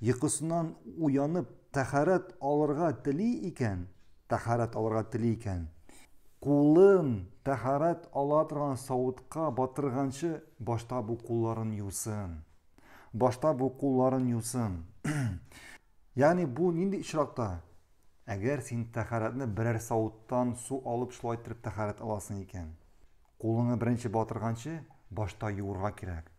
Йокысыннан уянып, тәһарәт алырга тели икән, тәһарәт алырга тели икән, кулын тәһарәт ала торган савытка батырганчы, башта бу кулларын юсын. Башта бу кулларын юсын. Ягъни бу нинди очракта? Әгәр син тәһарәтне берәр савыттан су алып шулай итеп тәһарәт аласың икән. Кулыңны беренче батырганчы башта юырга кирәк.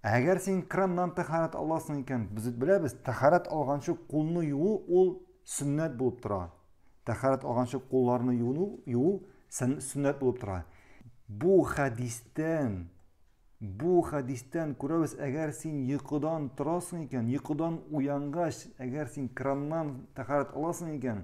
Әгәр син краннан тәхарәт аласың икән, без бит беләбез, тәхарәт алганчы кулны юу ул сөннәт булып тора. Тәхарәт алганчы кулларны юу юу сөннәт булып тора. Бу хәдистән бу хәдистән күрәбез, әгәр син йокыдан торасың икән, йокыдан уянгач, әгәр син краннан тәхарәт аласың икән,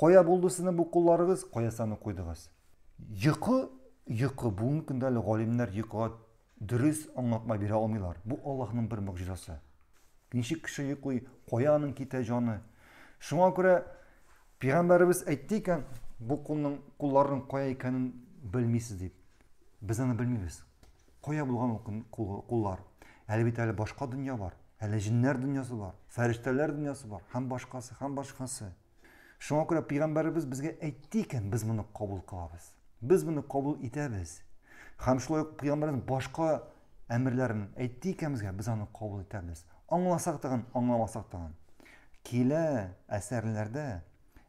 Кая булды сезнең бу кулларыгыз, кая саны куйдыгыз? Йокы, йокы, бүгенге көндә әле галимнәр йокыга дөрес аңлатма бирә алмыйлар. Бу Аллаһның бер могҗизасы. Ничек кеше йоклый, кая аның китә җаны? Шуңа күрә пәйгамбәребез әйтте икән, бу кулның кулларның кая икәнен белмисез дип. Без аны белмибез. Кая булган ул куллар? Әле бит әле башка дөнья бар. Әле җиннәр дөньясы бар, фәрештәләр дөньясы бар, һәм башкасы, һәм башкасы. Шуңа күрә пәйгамбәребез безгә әйтте икән, без моны кабул кылабыз. Без моны кабул итәбез. Һәм шулай ук пәйгамбәребез башка әмерләрен әйтте икән безгә, без аны кабул итәбез. Аңласак тагын, аңламасак тагын. Килә әсәрләрдә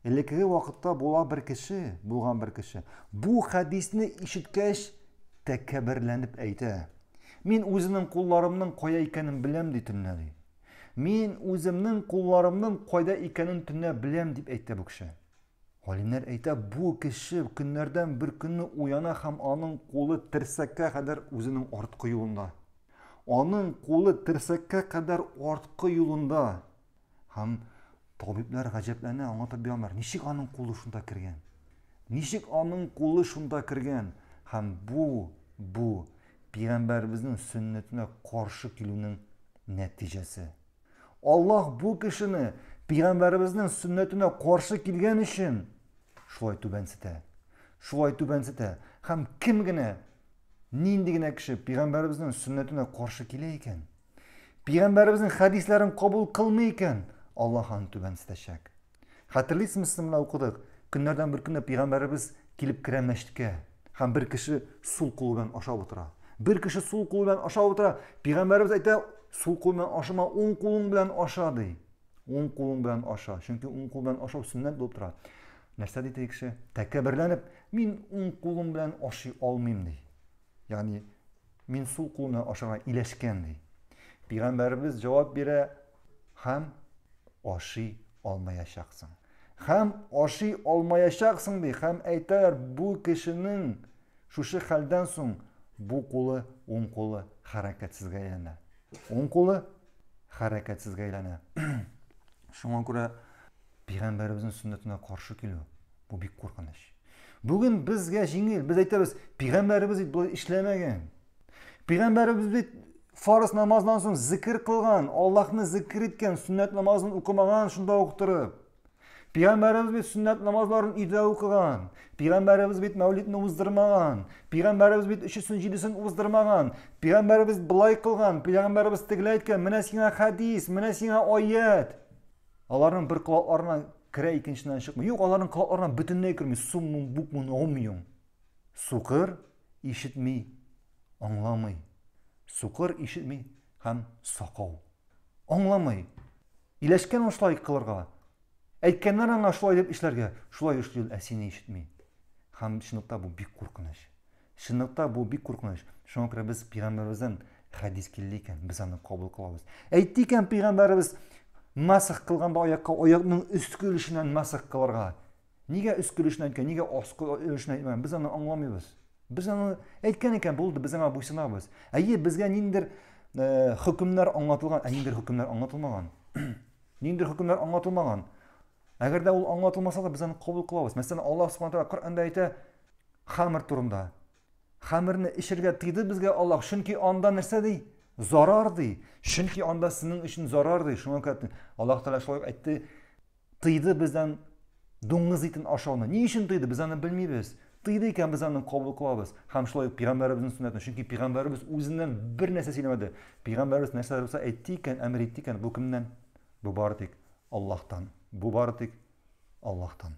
Элеккеге вакытта була бер кеше, булган бер кеше, бу хәдисне ишеткәч, тәкәбберләнеп әйтә. Мин үземнең кулларымның кая икәнен беләм, ди төнлә, ди. Мин үземнең кулларымның кайда икәнен төнлә беләм, дип әйтә бу кеше. Галимнәр әйтә, бу кеше көннәрдән бер көнне уяна һәм аның кулы терсәккә кадәр үзенең арткы юлында. Аның кулы терсәккә кадәр арткы юлында. Һәм табиблар гаҗәпләнә, аңа таба алар, ничек аның кулы шунда кергән? Ничек аның кулы шунда кергән? Һәм бу бу пигамбәребезнең сөннәтенә каршы килүнең нәтиҗәсе. Аллаһ бу кешене пигамбәребезнең сөннәтенә каршы килгән өчен шулай түбәнсетә. Шулай түбәнсетә. Һәм кем генә нинди генә кеше пигамбәребезнең сөннәтенә каршы килә икән? Пигамбәребезнең хәдисләрен кабул кылмый икән, Аллаһ аны түбәнсетәчәк. Хәтерлисезме, сез менә укыдык. Көннәрдән бер көнне пигамбәребез килеп керә мәчеткә һәм бер кеше сул кулы белән ашап утыра. Бер кеше сул кулы белән ашап утыра. Пигамбәребез әйтә, сул кулы белән ашама, уң кулың белән аша ди. Уң кулың белән аша, чөнки уң кул белән ашау сөннәт булып тора. Нәрсә ди теге кеше? Тәкәбберләнеп, мин уң кулым белән ашый алмыйм ди. Ягъни, мин сул кулны ашарга иләшкән, ди. Пигамбәребез җавап бирә, Хәм ашый алмаячаксың. Хәм ашый алмаячаксың, ди. Хәм әйтәләр, бу кешенең шушы хәлдән соң бу кулы, уң кулы хәрәкәтсезгә әйләнә. Уң кулы хәрәкәтсезгә әйләнә. Шуңа күрә Пигамбәребезнең сөннәтенә каршы килү, бу бик куркыныч. Бүген безгә җиңел, без әйтәбез, пигамбәребез бит болай эшләмәгән. Пигамбәребез бит фарыз намаздан соң зикр кылган, Аллаһны зикр иткән, сөннәт намазын укымаган шунда ук торып. Пигамбәребез бит сөннәт намазларын өйдә укыган. Пигамбәребез бит мәүлидне уздырмаган. Пигамбәребез бит өчесен җидесен уздырмаган. Пигамбәребез былай кылган, пигамбәребез тегеләй әйткән, менә сиңа хәдис, менә сиңа аят. Аларның бер колакларына керә, икенченнән чыкмый. Юк, аларның колакларына бөтенләй керми. Суммун букмун омюн. Сукыр ишетми, аңламый. Сукыр ишетми һәм сакау. Аңламый. Иләшкән ул шулай кылырга. Әйткәннәр аңа шулай дип эшләргә. Шулай эшли ул, ә сине ишетми. Һәм чынлыкта бу бик куркыныч. Чынлыкта бу бик куркыныч. Шуңа күрә без пигамбәребездән хәдис килде икән, без аны кабул кылабыз. Әйтте икән пигамбәребез масх кылганда аякка аякның өске өлешеннән масх кылырга. Нигә өске өлешеннән әйткән, нигә аскы өлешеннән әйтмәгән? Без аны аңламыйбыз. Без аны әйткән икән булды, без аңа буйсынабыз. Әйе, безгә ниндер э, хөкемнәр аңлатылган, ә ниндер хөкемнәр аңлатылмаган. ниндер хөкемнәр аңлатылмаган. Әгәр дә ул аңлатылмаса да без аны кабул кылабыз. Мәсәлән, Аллаһ Субхану тәгалә Коръәндә әйтә, Хамыр турында. Хамырны эчергә тыйды безгә Аллаһ, чөнки анда нәрсә ди? Зарар ди. Чөнки анда сезнең өчен зарар ди. Шуңа күрә Аллаһ Тәгалә шулай әйтте, тыйды бездән дуңгыз итен ашауны. Ни өчен тыйды? Без аны белмибез. Тыйды икән без аны кабул кылабыз. Һәм шулай ук пигамбәребезнең сөннәтен, чөнки пигамбәребез үзеннән бер нәрсә сөйләмәде. Пигамбәребез нәрсә булса әйтте икән, әмер итте икән, бу кемнән? Бу бары тик Аллаһтан. Бу бары тик Аллаһтан.